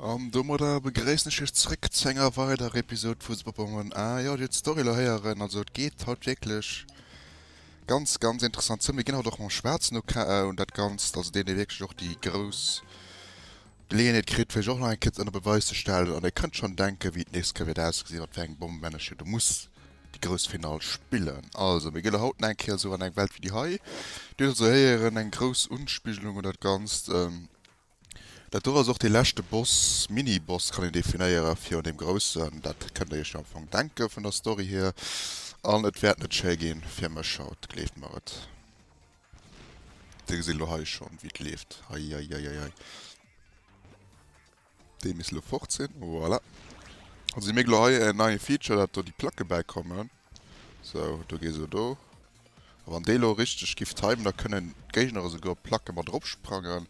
An domadder begréissen ech iech zréck zu enger weiderer Episode vu Superpoweren. Ah jo, dir hutt d'Story elo héieren, also et geet haut wierklech ganz, ganz interessant zou. Mir ginn haut och mam Schwaarzen ok un dat Ganzt, also deen dee wierklech och déi grouss Geleeënheet kritt fir sech och nach eng Kéier ënner Beweis ze stellen. An dir kënnt schonn denken, wéi d'nächst Kéier wäert ausgesinn, wat fir eng Bomm männech hie do muss déi grouss Finall spillen. Also mir gi lo haut nach eng Kéier esou an eng Welt wéi déi hei. Dir hutt also héieren, eng grouss Unspigelung un dat Ganzt. Dat do ass och dee leschte Boss, Mini-Boss kann een definéieren, virun deem groussen. Dat kënnt Der Iech jo am Fong denken, vun der Story hier. An et wäert net schéi gi fir mech haut, gleeft mer et. Dir gesitt elo hei schonn, wéi et leeft. Heieieiei. Dee misst elo fort sinn. Voilà. Dann si mir elo hei. En neie Feature, dat do déi Placke bäikommen. Sou, do gees elo do. A wann dee elo richteg giff timen, da kënnen d'Géigner esouguer op d'Placke mat eropsprangen.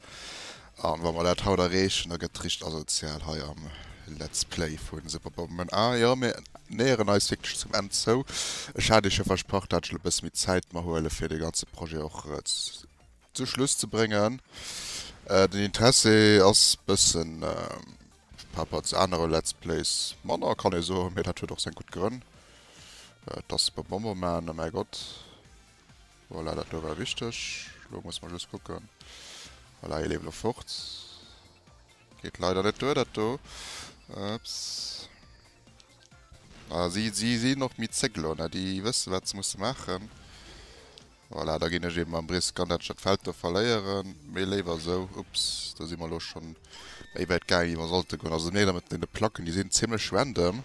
A wa mer dat haut erreechen, da gëtt et richteg asozial hei am Let's Play vu Super Bomberman. A jo, mir näheren eis wierklech zum Enn zou. Ech hat iech jo versprach, dat ech elo e bësse méi Zäit mer huelen, fir dee ganze Projet och Zum Schluss ze bréngen. Den Interesse ass bëssen paper zu anere Let's Plays manner kann ee soen, mee dat huet och seng gutt Grënn. Et ass beim Bomberman, oh mäi Gott, voilà dat do war wichteg. Elo muss mer just kucken, voilà hie leeft elo fort, geet leider net duer dat do, ups. Ah si sinn och méi zéck elo ne, déi wësse wat se musse maachen. Voilà, da ginn ech eben mam Brisk an dat Stadfeld do verléieren, mee léiwer esou. Ups, do si mer elo scho méi wäit gaangen, wéi mer sollte goen. Also mir mat deene Placken, déi sinn zimlech random.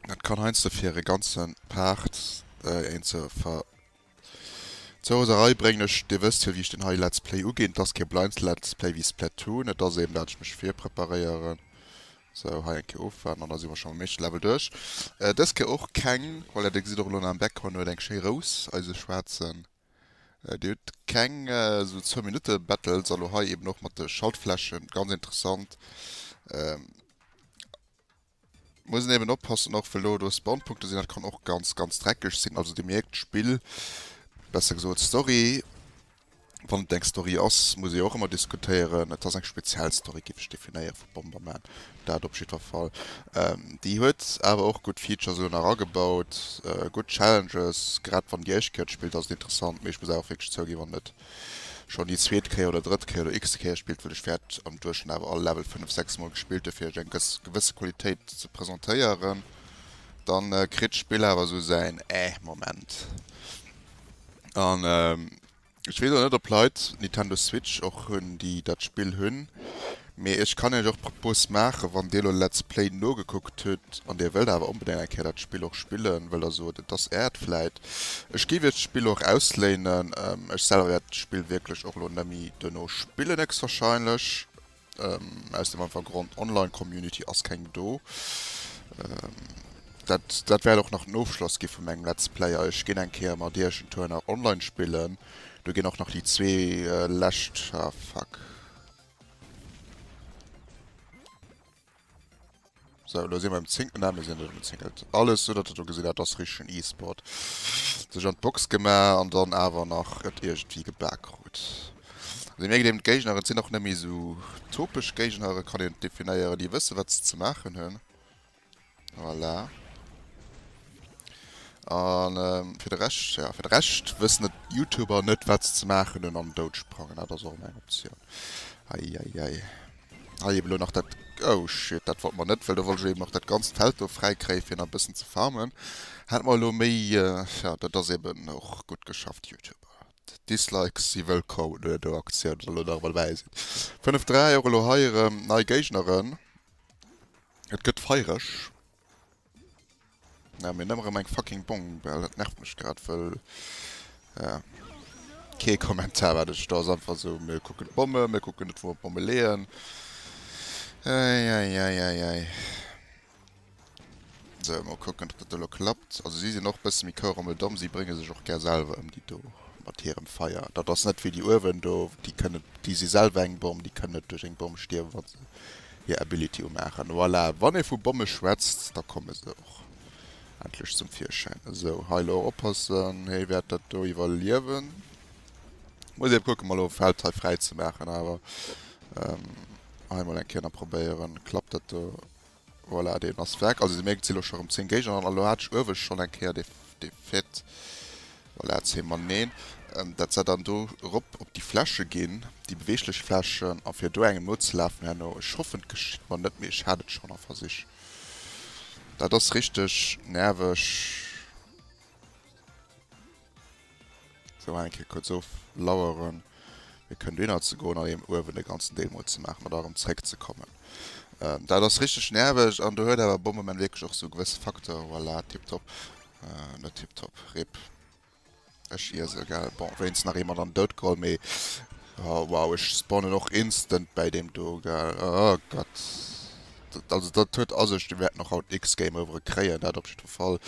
Dat kann heiansdo fir e ganze Part een zur Ver. Zur Roserei bréngen. Ech, Dir wësst jo, wéi ech deen hei Let's Play uginn. Et ass kee Blinds Let's Play wéi Splatoon. Et ass eben dat ech mech virpreparéieren Sou, hei eng Kéier ofwaarden an da si mer schonn mam éischte Level duerch. Dës Kéier och keng, voilà, Dir gesitt och elo nach am Background, hien huet eng schéi Rous, eise Schwaarzen. Dir hutt keng esou Zwou-Minutte-Battles a lo hei eeben och mat de Schaltflächen, ganz interessant. Muss een eeben oppassen och, wëll do do Spawnpunkte sinn, dat kann och ganz, ganz dreckeg sinn. Also Dir mierkt, d'Spill, besser gesot d'Story, wann et eng Story ass, muss ee och ëmmer diskutéieren. Et ass eng speziell Story, géif ech definéieren, vu Bomberman, dat op jiddwer Fall. Déi huet awer och gutt Features elo nach agebaut, gutt Challenges. Grad wann Dir Iech Killed spillt, ass et interessant, mee ech muss awer och wierklech zouginn, wann et schonn déi zweet Kéier oder drëtt Kéier oder x-te Kéier spillt, well ech wäert am Duerchschnëtt awer all Level fënnef, sechs Mol gespillt hu fir Iech eng gewësse Qualitéit ze presentéieren, da kritt d'Spill awer esou säin Ähh-Moment. An ech weess och net op Leit Nintendo Switch och hunn déi dat Spill hunn, mee ech kann iech och d'Propos maachen, wann dir elo Let's Play nogekuckt hutt an dir wëllt awer onbedéngt eng Kéier dat Spill och spillen, wëll der sot et ass äert vläit, ech géif iech d'Spill och ausléinen, ech selwer wäert d'Spill wierklech och elo net méi duerno spillen héchstwahrscheinlech. Aus dem einfach Grond, Online Community ass keng do. Dat dat wäert och nach den Ofschloss gi vu mengem Let's Player. Ech ginn eng Kéier mat iech en Tour nach online spillen. Do ginn och nach déi zwee lescht, ah fuck. So, lo si mer um zingten an, mir sinn net um zingelt. Alles sou datt der do gesinn, dat ass richtegen E-Sport. Sech an d'Box gema an dann awer nach et iergendwéi geba krut. Also mir gedeem d'Géigner, et sinn och net méi sou topesch Géigner, et kann een et definéieren, déi wësse wat se ze maachen hunn. Voilà. An fir de Rescht, ja fir de Rescht wëssen et Youtuber net wat se ze maachen hunn an dout sprangen, dat ass och eng Optioun. Eieiei. Hei eben elo nach dat, oh shit, dat wollt mer net, well do wollt ech eben och dat ganzt Feld do fräi kréie fir nach e bëssen ze farmen. Hätt mer elo méi, ja dat ass eben och gutt geschafft Youtuber. Dislikes si wëllkomm no der Aktioun, well elo nach emol wei sinn 5, 3 och elo hei erëm nei Géigneren, et gëtt feiereg. Naam mir nemmer rem eng fucking Bongbell, dat nervt mech grad wëll ja kee Kommentar wat ech do einfach sou mir kucken d'Bombe mir kucken net wou mer d'Bombe leeën eieieiei sou mol kucken op dat do lo klappt. Also si sinn och bësse méi koueremel domm, si brénge sech och gär selwer ëm déi do mat hirem Feier. Dat ass net wéi déi uewen do déi kënne déi si selwer eng Bomm déi kënnen net duerch eng Bomm stierwen wann se hir Ability umaachen. Voilà, wann ee vu Bomme schwätzt, da komme se och endlech zum Virschäin. Esou, hei elo oppassen, hee wäert dat do iwwerliewen. Muss ebe kucken, mol elo Feld hei fräi ze maachen. Awer hei mol eng Kéier nach probéieren, klappt dat do? Voilà, deen ass weg. Also, Dir mierkt, et si elo scho rëm 10 Géigner an. Elo hat ech uewe schonn eng Kéier dee Fait, Voilà, zéi mer neen dat Set an do rop op déi Fläche ginn, déi beweeglech Flächen, a fir do engem nozelafen herno. Ech hoffen, et geschitt mer net méi. Ech hat et schonn a Versich. Dat ass richteg nerveg. Sou, eng Kéier kuerz oflaueren, fir kënnt dohinner ze goen an eben uewen de ganzen Deel mol ze maachen, an da erëm zréckzekommen. Dat ass richteg nerveg an do huet awer Bomberman wierklech och sou gewësse Facteuren. Voilà, tiptop. Net tiptop, rip. Ech iese gell, bon wéinst nach ee mat an den Doud geholl, mee wow ech spawnen och instant bäi deem do gell, oh Gott. Dat also dat huet a sech, déi wäerten och haut x Game Overe kréien, dat op jiddwer Fall,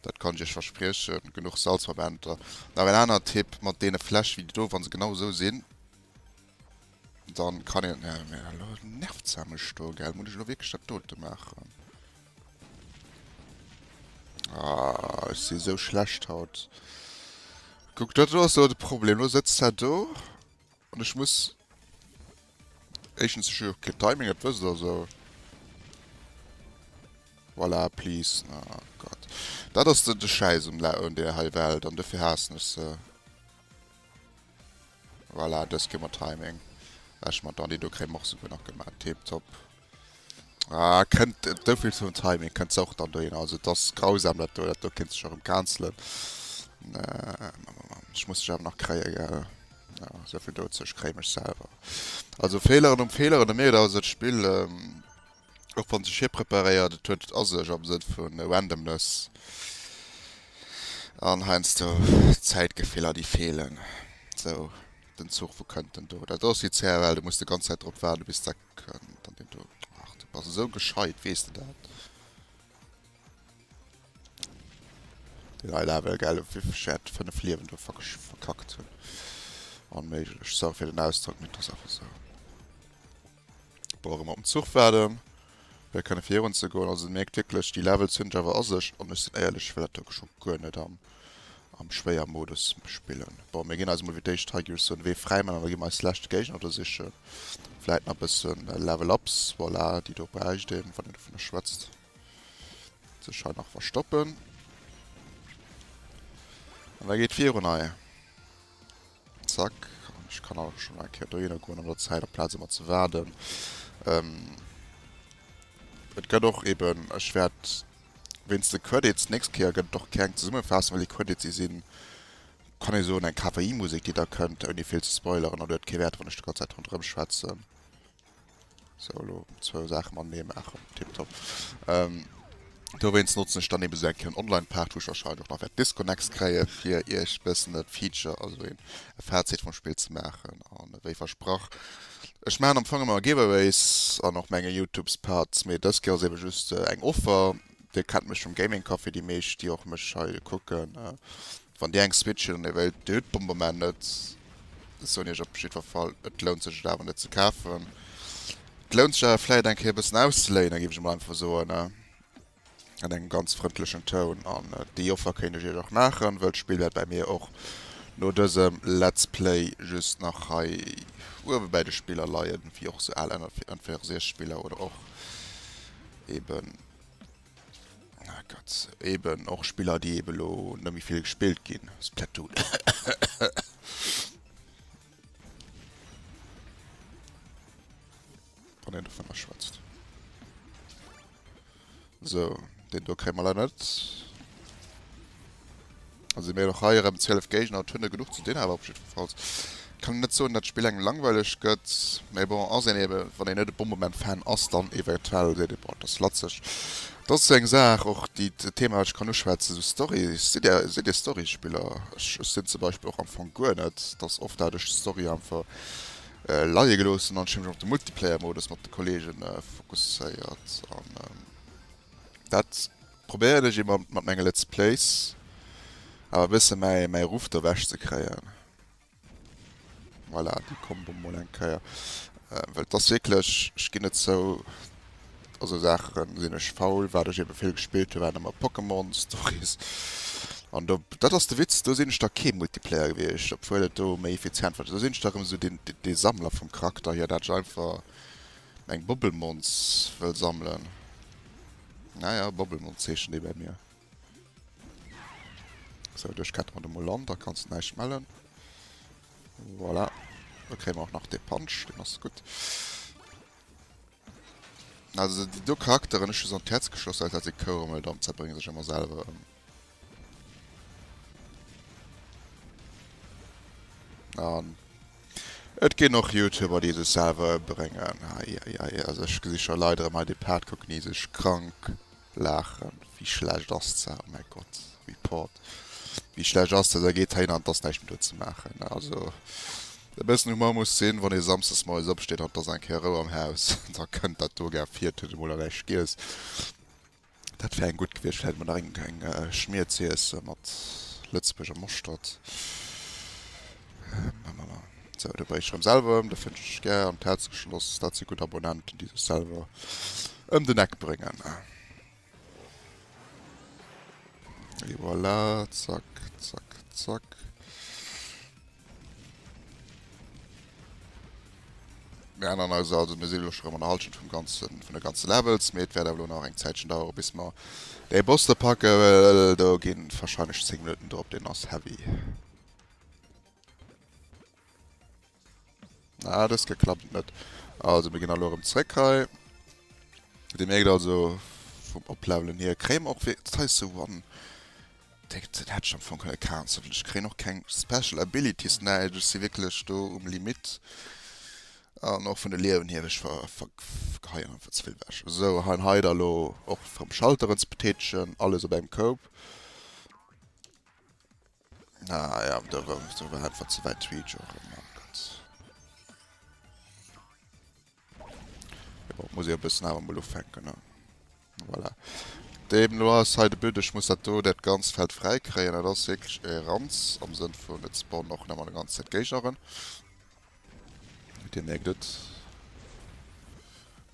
dat kann ech iech verspriechen. Genuch Salzverbänder, nach en aner Tipp mat deene Fläsch wéi déi do, wa se genau esou sinn. Dann kann een äh, mir hallo nervt sa mech do gell, muss ech lo wirklich dat dote machen? Ah, ich si so schlecht haut. Guck, dat war so de Problem. Lo sitzt sa do und ich muss Echtens ich jo kein Timing, dat wësst der so. Voilà, please. Oh Gott. Dat ass de, de Scheiß um, um der hei Welt an dofir hassen ich se. Voilà, dës ginn mer Timing. Ech mat Dani, do kréie mer och souguer nach gemaat. Tip top. Ah, kënnt souvill zum Timing, kënnt se och dann dohin. Also et ass grausam dat do, dat do kéint sech och erëm cancelen. Ech muss dech awer nach kréie gell. Jo, souvill dozou, ech kréie mech selwer. Also Feeleren um Feeleren, de Merit awer sot Spill. Och wann sech hie preparéiert, et huet et a sech am Sënn vu Randomness an heiansdo Zäitgefiller déi feelen. Sou den Zuch, wou kënnt en do? Dat ass wéi CFL, du muss de ganz Zäit drop waarden, bis dat kënnt an deen do. Ach, du bass esou gescheit, weess de dat? Deen hei Level, gell, op wéi vill Chat 5 Liewen do verkackt hunn. Onméiglech, sorry fir den Ausdrock, mee et ass einfach sou. Brauch ëmmer op den Zuch waarden, fir kënne virun ze goen. Also mierkt wierklech, déi Levels hunn ech awer a sech. An ech sinn éierlech, ech wëll dat do wierklech och guer net am am schwéier Modus spillen. Bon, mir ginn eis emol fir d'éischt hei, ginn ech soen, Wee fräi man an da gi mer eis leschte Géigner do sichen. Vläit nach e bësse Level Ups, voilà, déi do bräicht een, wann een dovunner schwätzt. Sech hei nach verstoppen. An da geet virun hei. Zack, an ech kann awer schonn eng Kéier dohinner goen an der Zäit, amplaz ëmmer ze waarden. Et gëtt och eben, ech wäert wéinst de Credits, d'nächst Kéier gëtt et och keng Zesummefassung, well déi Credits, déi sinn, kann ee soen, eng KPI-Musek, déi da kënnt, ouni vill ze spoileren. An huet kee Wäert, wann ech d'ganz Zäit ronderëm schwätzen. Sou, elo zwou Saache matenee maachen, tiptop. Dowéinst notzen ech dann eben esou eng kéier en Online-Part, wou ech wahrscheinlech och nach wäert Disconnects kréie fir iech e bëssen e Feature, also e Fazit vum Spill ze maachen. An ewéi versprach, ech maachen am Fong ëmmer Giveaways an och menge Youtubes-Parts, mee dës Kéier ass eben just eng Offer. Dir kennt mech vum Gaming Café, déi meescht, déi och mech hei kucken. Wann dir eng Switch hin an hier wëllt, dir hutt d'Bomberman net, soen iech op jiddwer Fall, et lount sech et awer net ze kafen. Et lount sech awer vläit eng Kéier e bëssen auszeléinen, géif ech emol einfach soen, an engem ganz frëndlechen Toun. An déi Offer kéint ech iech och maachen, wëll d'Spill wäert bäi mir och no dësem Let's Play just nach hei uewe bäi de Spiller leien, wéi och sou al N64 Spiller oder och eben. Gott, eben och Spiller déi eben lo net méi vill gespillt ginn. Splatoon. Wann en dovunner schwätzt. So, den do kréie mer leider net. Also mir och hei erem 12 Géigner, et hun der genuch ze din awer op jiddferfalls kann een net soen dat d'Spill engem langweileg gëtt, mee bon ass een eben wann een net e Bombement Fan ass dann eventuell seet een boah et ass latzeg, et ass sou eng Saach och déi e Thema wat ech kann uschwätzen sou Story, sidd der sidd dir Story Spiller? Ech ech sinn zum Beispill och am Fong guer net, et ass oft dat ech d'Story einfach leie geloossen an ech hu mech op de Multiplayer Modus mat de Kollegen fokusséiert an dat Probéieren ech emol mat menge Let's Plays awer e bësse mäi mäi Ruff derwäsch ze kréien. Voilà, déi Combo mol eng Kéier. Well et ass wierklech, ech ginn et zou, mat esou Saache sinn ech faul. Wat ech ebe vill gespillt hu waren ëmmer Pokémon Stories. An do, dat ass de Witz, do sinn ech da kee Multiplayer gewiescht, obwuel et do méi effizient war. Do sinn ech da erëm esou deen dee Sammler vum Charakter hier, dat ech einfach meng Bobbelmons wëll sammelen. Naja, Bobbelmond zeechent ee bei mir. So, duerch ketten mer de mol an, da kanns du näischt mellen. Voilà. Da kréie mer och nach de Punch, den ass gutt. Also, déi do Charakteren, ech hu se an d'Häerz geschloss, well dat e Kouremel, dann zerbrénge sech ëmmer selwer ëm. An et ginn och Youtuber déi sech selwer ëmbréngen. Eieiei also ech gesi scho Leit erëm hei de Part kucken déi sech krank laachen. Wéi schlecht ass dat? Oh mäi Gott, Report. Wéi schlecht ass dat? Da geet heihin an et ass näischt méi do ze maachen. Also e bëssen Humor muss sinn, wann ee samsdes moies opsteet an et ass eng Kéier Rou am Haus. Da kënnt dat do gär vir, tëscht emol an äi Schgiess. Dat wär eng gutt gewiescht, vläit emol nach eng eng Schmier ze iessen mat lëtzebuerger Moschtert. Sou, do bréich ech rëm selwer ëm, do fënnt ech gär an d'Häerz geschloss, dat si gutt Abonnenten, déi sech selwer ëm den Eck bréngen. Et voilà, zack, zack, zack. Mir änneren eis also. Mir sinn elo scho rëm an der Halschent vum ganze, vun de ganze Levels, mee et wäert awer elo nach eng Zäitchen dauere bis mer dee Boss do packen, well do gi warscheinlech 10 Minutten drop, deen ass heavy. Ah, dës Kéier klappt et net. Also mir ginn elo erëm zréck hei. Dir mierkt also vum Oplevelen hier kréie mer och wéi, dat hei ass esou one. Den hätt ech am Fong kënne cancelen. Ech kréien och keng Special Abilities, näischt. Ech si wierklech do um Limit. An och vun de Liewen hier, ech vergeheien einfach ze vill ewech. Esou, hei an hei da lo och fir um Schalteren ze betätegen. Alles op engem Koup. Ah ja, do war einfach ze wäit d'Reach och. Jo, muss ee e bëssen awer mol ufänken, ne? Voilà. Deemno ass hei de But, ech muss dat do, dat ganzt Feld fräi kréien. Dat ass wierklech e Ranz, am Sënn vun, et spawnen och net mol eng ganz Zäit Géigner erëm. Dir mierkt et.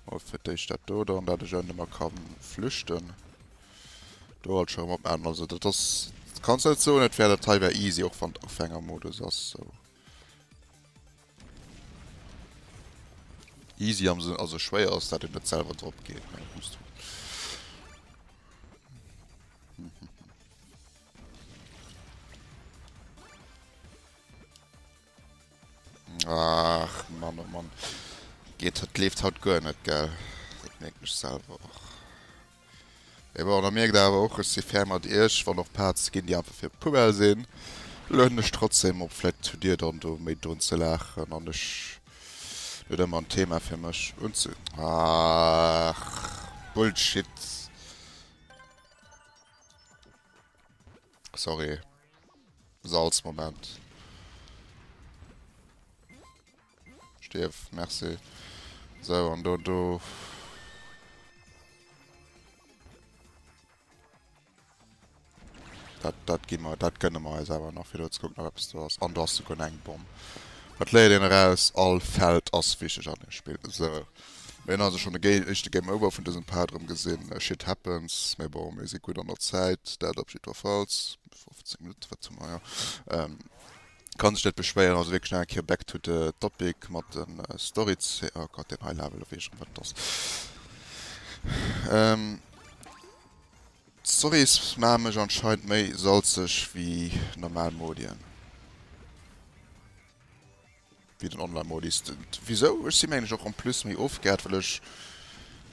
Mol fir d'éischt dat do dann, dat ech ënnen ëmmer ka flüchten. Do alt scho erëm op Enn. Also dat ass, kanns net soen, et wär, dat hei wär easy, och wann et Ufängermodus ass, sou. Easy am Sënn, also schwéier ass dat, et net selwer drop geet, mä et muss drop. Ach Mann oh Mann. Geet dat leeft haut guer net gell. Dat mierkt mech selwer och. Mee bon, da mierkt der awer och, ech si fair mat iech, wann och Paart ze ginn, déi einfach fir d'Poubelle sinn, lueden ech trotzdem op. Vläicht hutt dir dann do méi drun ze laachen an ech net ëmmer en Thema fir mech unze. Aach, Bullshit! Sorry, Salzmoment. Stierf, merci. Sou, an do, do. Dat, dat gi mer, dat gënne mer eis awer nach, fir do ze kucken, ob eppes do ass. An do ass souguer eng Bomm. Dat léiert een eraus, all Feld ass wichteg an deem Spill. Sou, mir hunn also schonn de Gé éischte Game Over vun dësem Part erëm gesinn. Shit happens, mee bon, mir si gutt an der Zäit, dat op jiddwerfalls. 15 Minutten, wat hu mer, jo. Kann sech net beschwéieren, also wierklech nach eng Kéier back to the topic mat de Stories, oh Gott deen hei levelen, wees ech erëm wat et ass, d'Stories maachen mech anscheinend méi salzeg wéi normal Modien. Wéi den Online-Modis. Wisou? Ech sinn eigentlech och en plus méi ofgehäert, well ech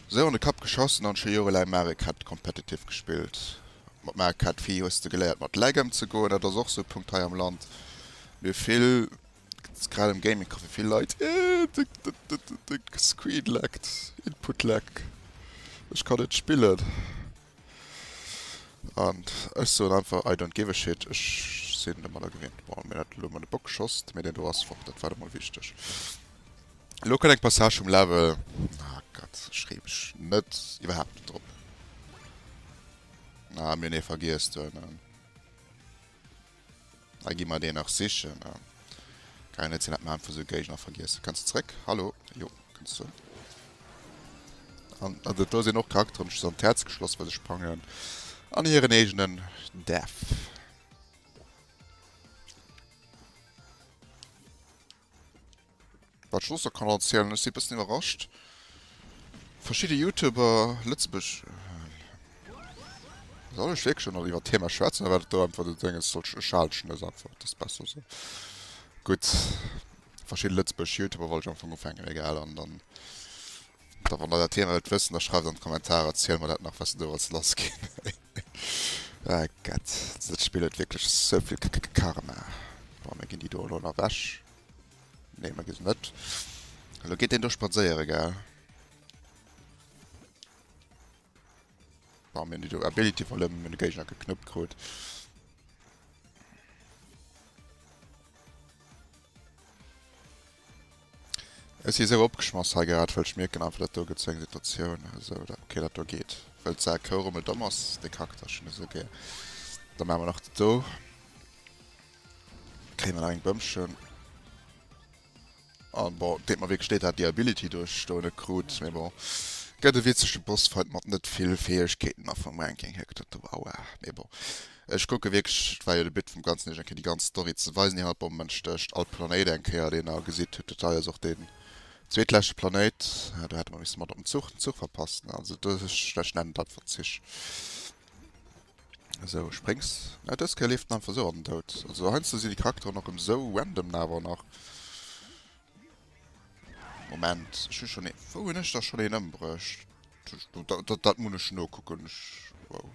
esou an de Kapp geschassen an scho jorelaang Mario Kart competitive gespillt. Mat Mario Kart Wii hues de geléiert mat Lag emzegoen, dat ass och esou e Punkt hei am Land, mir vill, grad am Gaming Café vill Leit, de Screen laggt, Input Lag, ech kann net spillen. An ech soen einfach I don't give a shit, ech sinn de Maler gewinnt. Bon, mir hunn dat elo mat de Bock geschoss, mee deen do ass fort, dat war emol wichteg. Elo kënnt eng Passage vum Level, ah Gott, ech ree mech net, iwwerhaapt net drop. Ah, mir hunn ee vergiess do ënnen. Hei gi mer deen nach sichen. Geil net sinn dat mer einfach sou Géigner vergiessen. Kënns de zréck? Hallo? Jo kënns du. An dat do sinn och Charakteren just an d'Häerz geschloss well se sprangen an hiren eegenen Däerf. Wat ech soss nach kann erzielen, ech si e bëssen iwwerrascht, verschidde Youtuber, Lëtzebuerg, soll ech wierklech nach iwwert d'Thema schwätzen oder wat et do einfach de Dénges soll, ech halen et einfach, dat ass besser esou. Gutt, verschidde lëtzebuergesch Youtuber wollt ech am Fong ufänken, egal. An dann, da wann der dat Thema wëllt wëssen, da schreift an d'Kommentarer, erzielt mer dat nach, wat se do alles lass ginn. Ëh ah Gett, dëst Spill huet wierklech sou vill K-K-K-Karma. Bon, mir ginn déi do elo nach ewech. Nee, mir ginn se net. Elo geet deen do spadséieren, gell? Bon, mir hunn déi do Ability verluer, mir hunn de Géigner geknuppt krut. Ech si esou opgeschmoss hei grad, wëll ech mierken einfach dat do gëtt sou eng Situatioun esou dat ok dat do geet wëll d'Saak kouw rommel domm ass dee Charakter ech hunn esou gär da maache mer nach dat do kréie mer nach eng Bëmschen an bon deet mer wierklech leed hat déi Ability do ech do net krut mee bon gëtt e witzege Bossfight mat net vill Fäegkeeten a vum Ranking hier gëtt dat do aua mee bon. Ech kucke wierklech, et war jo de But vum Ganzen, iech eng Kéier déi ganz Story ze weisen. Dir hat Bombmen Stécht, all Planéit eng Kéier, deen der gesitt. Hutt Detail ass och deen zweetleschte Planéit, do hätte mer misse mat op den Zuch, den Zuch verpasst, ne? Also do ech, ech nennen et einfach Zich. Esou, spréngs. Na, dës Kéier leeft en einfach esou an den Doud. Also heiansdo sinn déi Charakteren och erëm esou random na awer nach. Moment, ech hu schonn ee, wou hunn ech da schonn een ëmbruecht? Dat, dat muss ech nokucken, ech, wow.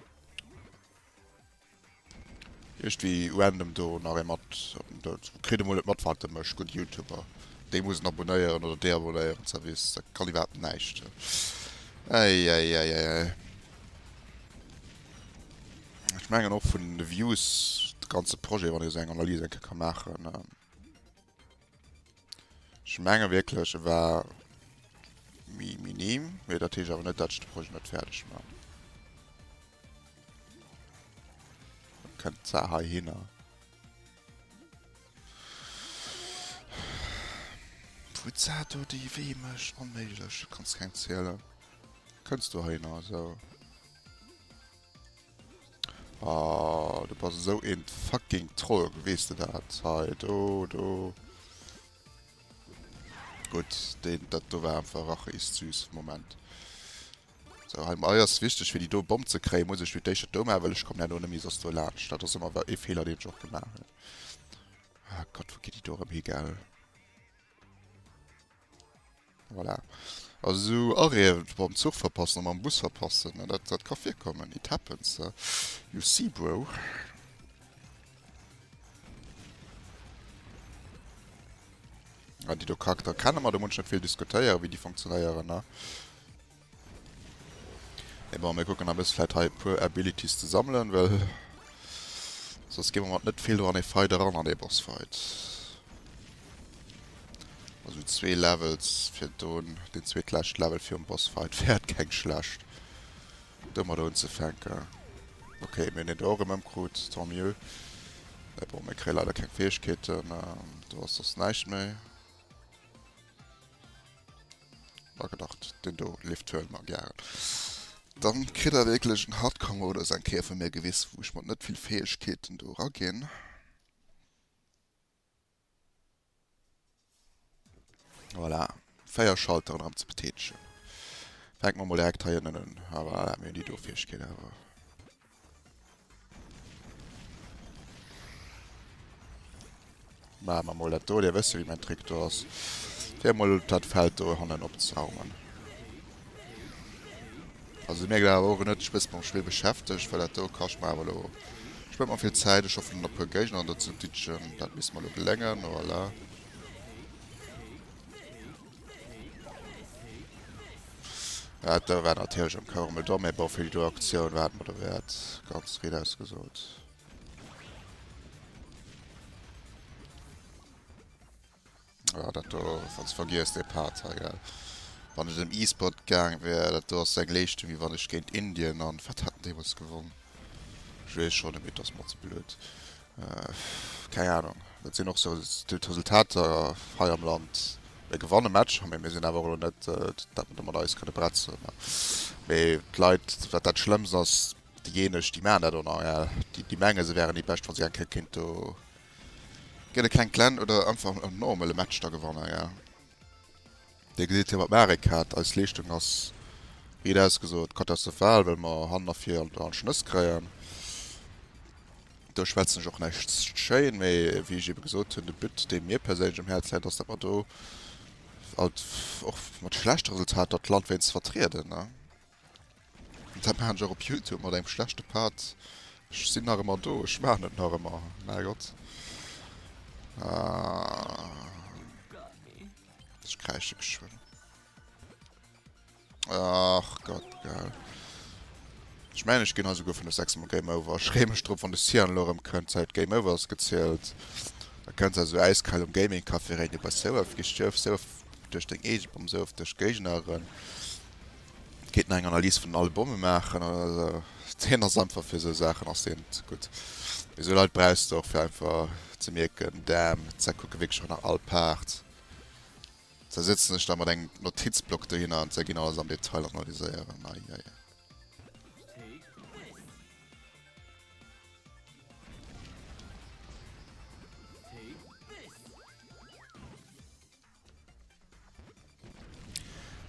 Iergdwi random do nach ee mat op den Doud. Kritt emol net mat wat e mécht. Gutt Youtuber déi muss en abonéieren oder deabonéieren. Zerwiss dat kann iwwerhaapt näischt. Äiäiäiäiäi ech mengen och vun de Views de ganze Projet wann ee seng Analyse eng Kéier ka maachen. Ech menge wierklech e war méi minim, mee dat heescht awer net, datt ech de Projet net fäerdeg man. Dann kënnt d'Saach heihinner. Wou d'Saach do déi wéi mécht, onméiglech, kanns keng zielen, kënns dohinner esou. Aah, du bass esou een fucking Troll, wees de dat? Hei do, do. Gutt, deen, dat do war einfach racheist süß, Moment. Sou, hei mei ass wichteg fir déi do Bomm ze kréien, muss ech fir d'éischt dat do maachen, well ech kommen herno net méi soss do laanscht. Dat ass ëmmer wa ee Feeler deen ech och gemaach hunn. Ah Gott, wou geet déi do erëm hi, gell? Voilà. Also sou Arrête mam Zuch verpassen a mam Bus verpassen, dat ka virkommen. It happens, you see bro. Ah déi do Charakter kenne mer, do muss ech net vill diskutéieren wéi déi funktionéieren. Et bon, mir kucken nach e bësse vläicht hei e puer Abilities ze sammelen, well soss gi mer mat net vill do an ee Fight eran, an ee Bossfight. Also zwee Levels fir do deen zweetlescht Level virum Bossfight wär et keng schlecht, domat unzefänken. Ok, mir hunn deen do och erëm ëmkrut, tant mieux. Et bon, mir kréie leider keng Fäegkeeten. Do ass soss näischt méi. War gedacht, den do leeft d'Höl mam Jarl. Dann kritt der wierklech en Hardcore-Modus eng Kéier vu mir gewiss, wou ech mat net vill Fäegkeeten do eraginn. Voilà, 4 Schalteren am ze betätegen. Fänken mer mol direkt heihinnen un. Ah voilà, mir hunn déi do Fäegkeet awer. Maachen mer mol dat do. Dir wësse wéi mäin Trick do ass. Fir mol dat Feld do hannen opzeraumen. Also si mierkt awer och en huet sech bësse mam Spill beschäftegt, well dat do kascht mer awer elo spent mer vill Zäit. Ech hoffen e puer Géigner do ze ditchen. Dat misst mer elo geléngen. Voilà. Ja, do war natierlech am Cours emol domm, mä bon, fir déi do Aktioun war et mer der Wäert, ganz riit ausgesot. Ja, dat do ass ganz vergiess, dee Part hei, gell. Wann ech an den E-Sport gaange wär, dat do ass seng Leeschtung, wéi wann ech géint Indien an wat hat en deemools gewonn? Ech weess schonn net méi, et ass mer ze blöd. Pff, keng Ahnung. Dat sinn och sou d'Resultater hei am Land. Mir gewanne Matcher, mee mir sinn awer elo net, dat mer do mat eis kënne bretzen. Mee d'Leit, wat dat Schlëmmst ass, déijéineg, déi maachen dat en Areal, déi menge se wäeren déi Bescht, wa se eng Kéier kéint do gëtt e klengt Glenn oder einfach en normale Match da gewannen, ja. Dir gesitt hie mat dem Arekat. Eis Leeschtung ass, riit ausgesot, katastrophal, well mer hannen a vir all Schnëss kréien. Do schwätzen ech och näischt schéin, mee wéi ech ebe gesot hunn, de But, dee mir perséinlech um Häerz läit, ass, datt mer do alt, och mat schlechte Resultater, d'Land wéinst vertrieden. An dat maachen ech och op Youtube, mat engem schlechte Pad. Ech sinn nach ëmmer do, ech maachen et nach ëmmer, mäi Gott. Ech kräische geschwënn. Ach Gott, geil. Ech meine, ech ginn also go vun der 6 Mal Game Over. Ech reem mech drop, wann de Sian lo rëm kënnt, Zäit Game Over ass gezielt. Da kënnt se also äiskal um Gaming Café rein, du bass sou oft gestierw, sou oft duerch deng eege Bomm, sou oft duerch Géigneren. Geet nach eng Analys vun den Albume maachen oder deen ass einfach fir esou Saachen ass deen net gutt. Mee esou Leit brauchs de och fir einfach ze mierken, Damn, d'Säck kucke wierklech och nach all Paart. Ze sëtzen ech da mat engem Notizblock dohinner an ze ginn alles am Detail analyséieren. Ai ai.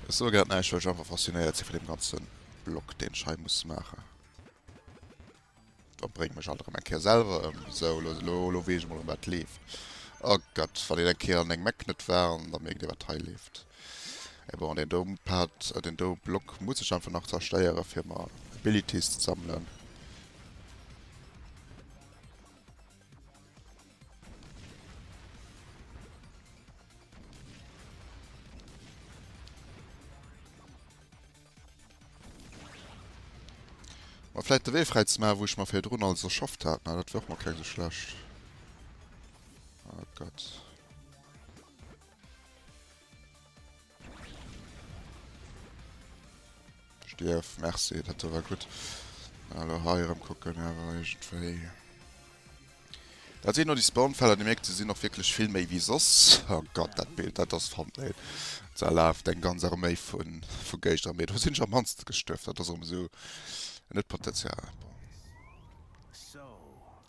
Ech soe grad näischt, well ech einfach faszinéiert si vun deem ganze Block, deen ech hei muss maachen. Dat bréngt mech alt erëm eng Kéier selwer ëm. Sou, lo, lo, lo weess ech emol erëm, wat leeft. Oh Gott, wann een eng Kéier an engem Eck net war, an da mierkt ee, wat hei leeft. Mee bon, deen do Pad, deen do Block muss ech einfach nach zerstéieren, fir mer Abilities ze sammelen. Mä vläit de Wee fräi ze maachen, wou ech mer virdrun alles erschafft hat. Mä dat wär och mol keng esou schlecht. Oh Gott. Stierf, merci, dat do war gutt. Elo hei erëm kucken awer iergendwéi. Dat sinn elo déi Spawnfeller, Dir mierkt, se sinn och wierklech vill méi wéi soss. Oh Gott, dat Bild, dat ass Thumbnail. Da laaft eng ganz Arméi vu vu Géigner, mee do sinn ech am mannste gestuerf. Dat ass erëm esou net potential.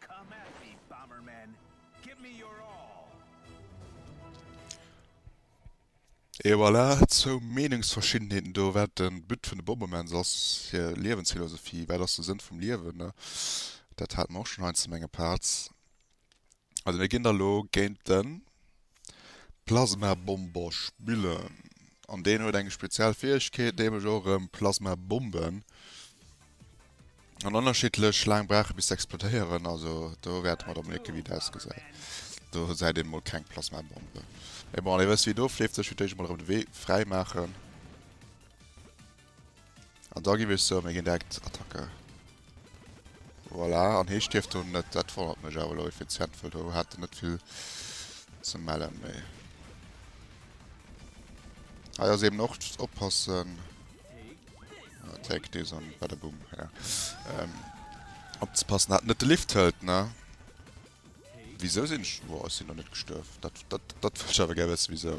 Come at me, Bomberman, give me your all! Et voilà, zwou Meenungsverschiddenheeten do, wat de But vun de Bombermans ass, hir Liewensphilosophie, wat ass de Sënn vum Liewen. Dat hate mer och schonn heiansdo, menge Parts. Also mir ginn da lo géint den. Plasmabombosch Bullen an deen huet eng speziell Fäegkeet, nämlech och erëm Plasmabomben an ënnerschiddlech laang brauchen bis se explotéieren, also do wäerte mer da mol hecken wéi dat ausgesäit. Do säit een mol keng Plasmabombe, mee bon dir wësst wéi do fleeft sech fir d'éischt emol erëm de Wee fräi maachen. An da giff ech soen mir gin direkt Attacker. Voilà, an hee stierft do net, dat wonnert mech awer elo effizient, well do hat en net vill ze mellen méi. Hei ass eben och just oppassen, take this an badaboom, ja, opzepassen dat en net de Lift hëlt, ne. Wisou sin ech, woah ech sin nach net gestuerf, dat wëll ech awer gär wëssen wisou.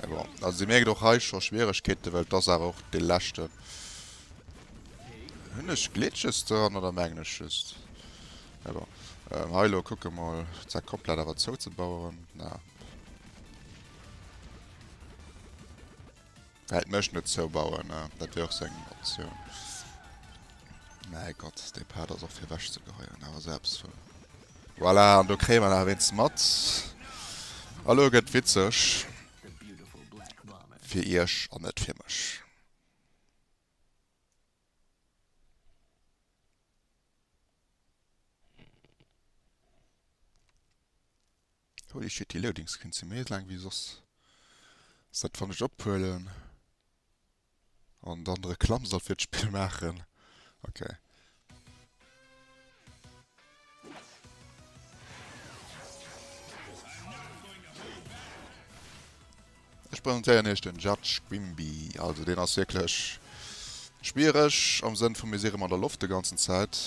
Mais bon, also sie merkt och hei scho Schwieregkeeten, well et ass awer och dee leschten. Hunn ech Glitches doran oder mengen ech just? Mais bon, ähm, hei lo kucke mol, d'Säck komplett awer zouzebaueren. Na. Hei d'Mëscht net zoubauen, dat wier och sou eng Optioun. Mäi Gott, dee Pad ass och fir ewech ze geheien, awer sou eppes vu. Voilà, an do kréie mer nach wéinst mat. Elo gëtt witzeg. Fir Iech an net fir mech. Holy shit, déi Loading Screens si méi laang wéi soss. Sait wann ech ophuelen an dann d'Reklamm soll fir d'Spill maachen. Ok. Ech presentéieren iech den Judge Quimby. Also deen ass wierklech schwiereg am Sënn vu mir si rëm an der Loft de ganzen Zäit.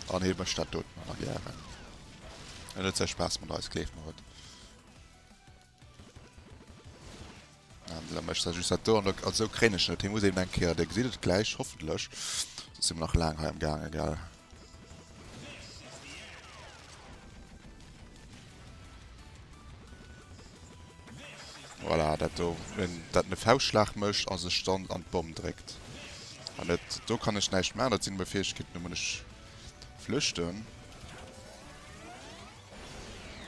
An hie mécht dat doten ëmmer gären. En huet säi Spaass mat eis, gleeft mer et. An da mécht säi just dat do an da, also esou kréien ech en net. Hie muss eben eng Kéier, Dir gesitt et gläich hoffentlech, soss si mer nach laang hei am Gaange, gell. Voilà, dat do, dat en e Fauschtschlag mécht a sech dann an d'Bomm dréckt. An dat do kann ech näischt maachen, dat sinn meng Fäegkeeten, do muss ech flüchten.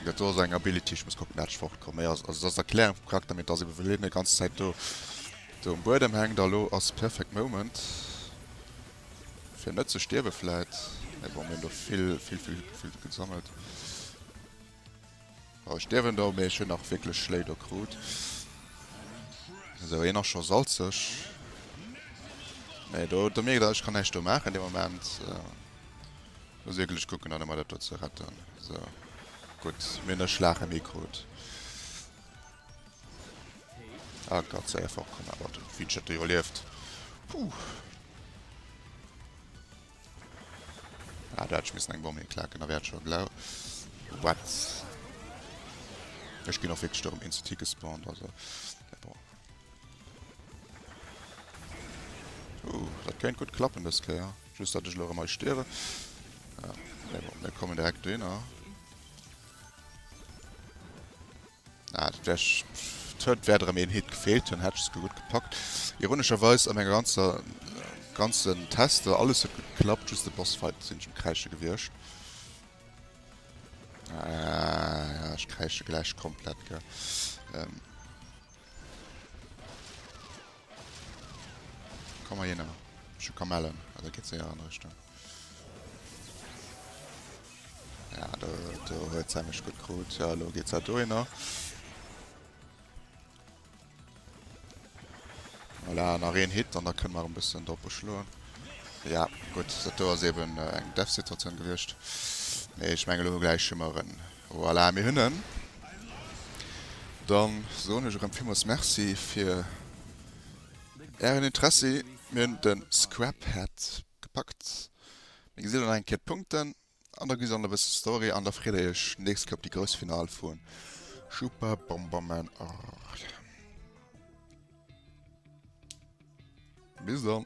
Dat do ass eng Ability, ech muss kucken, dat ech fortkomm. Mee also dat ass d'Erklärung vum Charakter, mee et ass ebe, wëll hien déi ganz Zäit do um Buedem hänkt. A lo ass perfect moment. Fir net ze stierwe vläit. Mee bon, mir hunn do vill, vill, vill, vill gesammelt. Oh, ech stierwen do, mee ech hunn nach wierklech Schléi do krut. Esou, hien ass scho salzeg. Nee, do, do mierkt Der, ech kann näischt do maachen de Moment. Ech muss wierklech kucken, dann emol dat do ze retten. Esou, gutt, mir hunn e Schlag ëm Ee krut. Ah, grad sei er fortkomm, awer den Feature hat iwwerlieft. Puh. Ah, da hätt ech missen eng Bombe hinklaken, da wär et schon blau. What? Ech ginn och wirklich darum in CT gespawnt, also. Ja, bon. Uh, dat könnt gut klappen des Kéier. Just, dat ech lo mei stierwe. Ja, bon, mir kommen direkt do hinner. Ah, dat wär cht. Huet wäert erëm een Hit gefeelt hunn, hätt ech esouguer gutt gepackt. Ironescherweis an enger ganzer ganzen Tester, alles huet gutt geklappt, just de Bossfight sinn ech um Kräische gewiescht. Ah, ja, ech kräische gläich komplett, gell. Komm hei hinner. Ech hu Kamellen. Ah, dat geet séier an Richtung. Ja, do, do huet se mech gutt krut. Ja, elo geet se dohinner. Voilà, nach een Hit an da kënne mer e bëssen doppe schloen. Ja, gutt, dat do ass eeben eng Death-Situatioun gewiescht. Mee ech mengen, elo gläich hu mer en. Voilà, mir hunn en. Dann soen ech erëm villmools Merci fir Ären Interessi. Mir hunn de Scrap Head gepackt. Mir gesi lo nach eng Kéier d'Punkten an da gesi se och nach e bëssen Story an da freet Der Iech nächst Kéier op déi grouss Final vu Super Bomberman Arc. Bis dann.